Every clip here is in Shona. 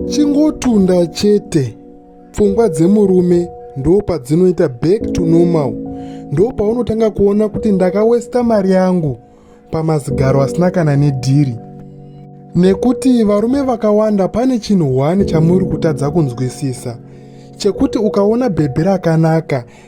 chingotunda chete pfungwa dzemurume ndo padzinoita back to normal ndo paunotanga kuona kuti ndakawesta mari yangu pamazigaro asina kana nedhiri nekuti varume vakawanda pane chinhu one chamuri kutadza kunzwisisa chekuti ukaona bhebhi rakanaka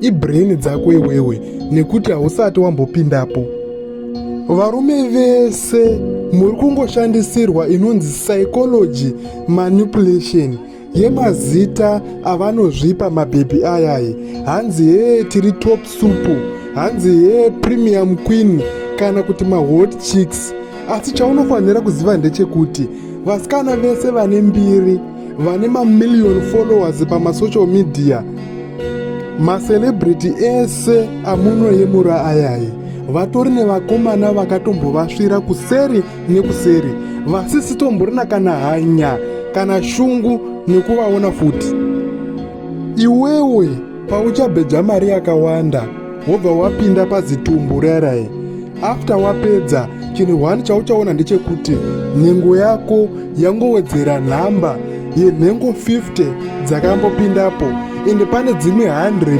ibrain dzako iwewe nekuti hausati wambopindapo varume vese muri kungoshandisirwa inonzi psychology manipulation yemazita avanozvipa mabhebhi ayayi hanzi hee tiri top supu hanzi hee premium queen kana kuti mahot chicks asi chaunofanira kuziva ndechekuti vasikana vese vane mbiri vane mamillion followers pamasocial media macelebrity ese amunoyemura ayayi vatori nevakomana vakatombovasvira kuseri nekuseri vasisitomborina kana hanya kana shungu nekuvaona futi iwewe pauchabheja mari yakawanda wobva wapinda pazitumbu rerai after wapedza chinhu one chauchaona ndechekuti nhengo yako yangowedzera nhamba yenhengo 50 dzakambopindapo ende pane dzimwe 100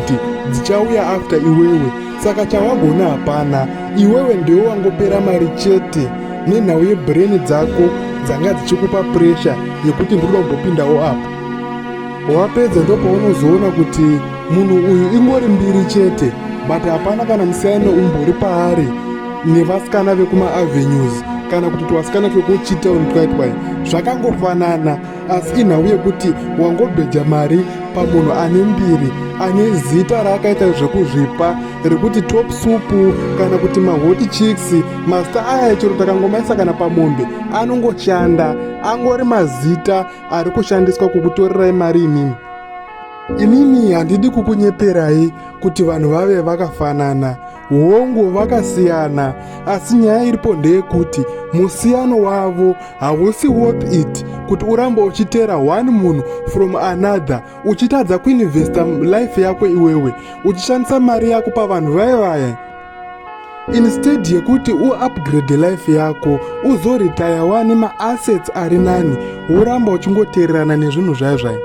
dzichauya after iwewe saka chawagona hapana iwewe ndiwe wangopera mari chete nenhau yebreni dzako dzanga dzichikupa presha yekuti ndinoda kumbopindawo apo wapedza ndopaunozoona kuti munhu uyu ingori mbiri chete but hapana kana musiyano umbori paari nevasikana vekumaavenues kana kuti twasikana twekuchitown twaitwai zvakangofanana asi inhau yekuti wangobheja mari pamunhu ane mbiri ane zita raakaita zvekuzvipa rekuti top supu kana kuti mahoti chiks mazita aya chero takangomaisa kana pamombe anongoshanda angori mazita ari kushandiswa kukutorerai mari imimi inini handidi kukunyeperai kuti vanhu vave vakafanana hongu vakasiyana asi nyaya iripo ndeyekuti musiyano wavo hausi worth it kuti uramba uchiteera one munhu from another uchitadza kuinvesta life yako iwewe uchishandisa mari yako pavanhu vaye vaye instead yekuti uupgrade life yako uzoritaya wani maassets ari nani woramba uchingoteererana nezvinhu zvayo zvayo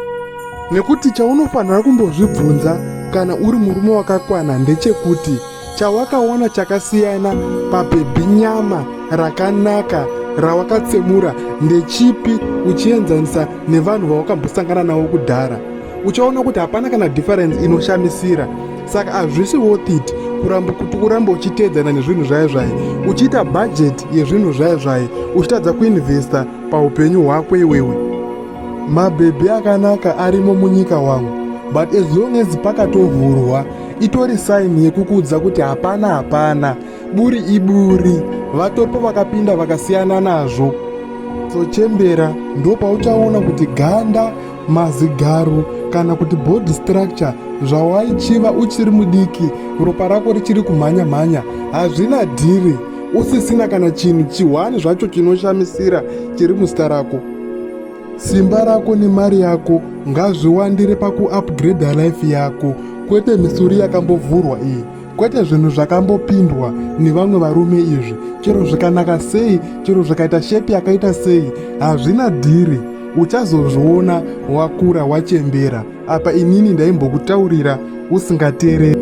nekuti chaunofanira kumbozvibvunza kana uri murume wakakwana ndechekuti chawakaona chakasiyana pabhebhi nyama rakanaka rawakatsemura ndechipi uchienzanisa nevanhu vawakambosangana navo kudhara uchaona kuti hapana kana difference inoshamisira saka hazvisi worth it kuramba kuti uramba uchiteedzana nezvinhu zvaye zvaye uchiita bhajeti yezvinhu zvaye zvaye uchitadza kuinvesta paupenyu hwako iwewe mabhebhi akanaka arimo munyika wangu but as long as pakatovhurwa itori saini yekukudza kuti hapana hapana buri iburi vatopo vakapinda vakasiyana nazvo sochembera ndopauchaona kuti ganda mazigaro kana kuti body structure zvawaichiva uchiri mudiki ropa rako richiri kumhanya mhanya hazvina dhiri usisina kana chinhu chihwani zvacho chinoshamisira chiri muzita rako simba rako nemari yako ngazviwandire pakuupgrada life yako kwete misuri yakambovhurwa iyi kwete zvinhu zvakambopindwa nevamwe varume izvi chero zvikanaka sei chero zvikaita shepi yakaita sei hazvina dhiri uchazozviona wakura wachembera apa inini ndaimbokutaurira usingateereri